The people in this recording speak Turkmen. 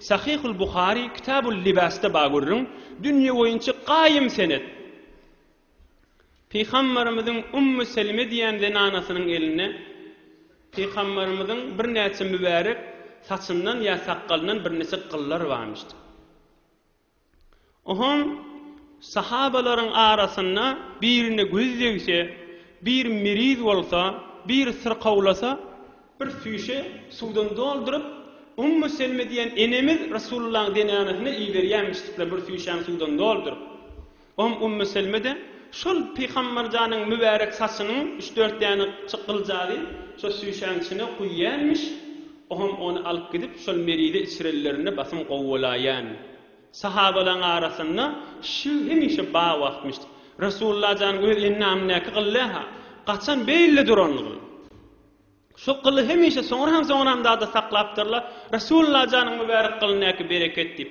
Sahyhul Buhary Kitabul Libasda ba görüň, dünýe boýunça gaýym senet. Pygamberimiziň Ummu Selime diýen zenanasynyň elinde Pygamberimiziň birnäçe mübärek saçyndan ýa sakgalyndan birnäçe gyllar barmyşdy. Ohoň sahabalaryň arasynda birine göz degse, bir meriz bolsa, bir syrkawlasa, bir süýşe suwdan dolduryp, Ummu Selme diýen enemiz Resulullahyň zenánasyna iberýärmişdikler bir süýşäni suwdan dolduryp. Ohm Ummu Selme-de şol Pygamberjanyň mübärek saçynyň üç-dört däne çykyljagy şo süýşäň içine guýýarmiş. O hem ony alyp gidip, şol merize içirenlerinde basym gowy bolaýýan. Sahabalaryň arasynda şyg hemişe bar wagtmyş. Resulalla janyň öz endamyndäki gyly-ha, gaçan beýle duran gyl. Şo gyly hemişe soňra hem soňra hem dagda saklapdyrlar. Resulalla janyň mübärek gylyndaky bereket diýip.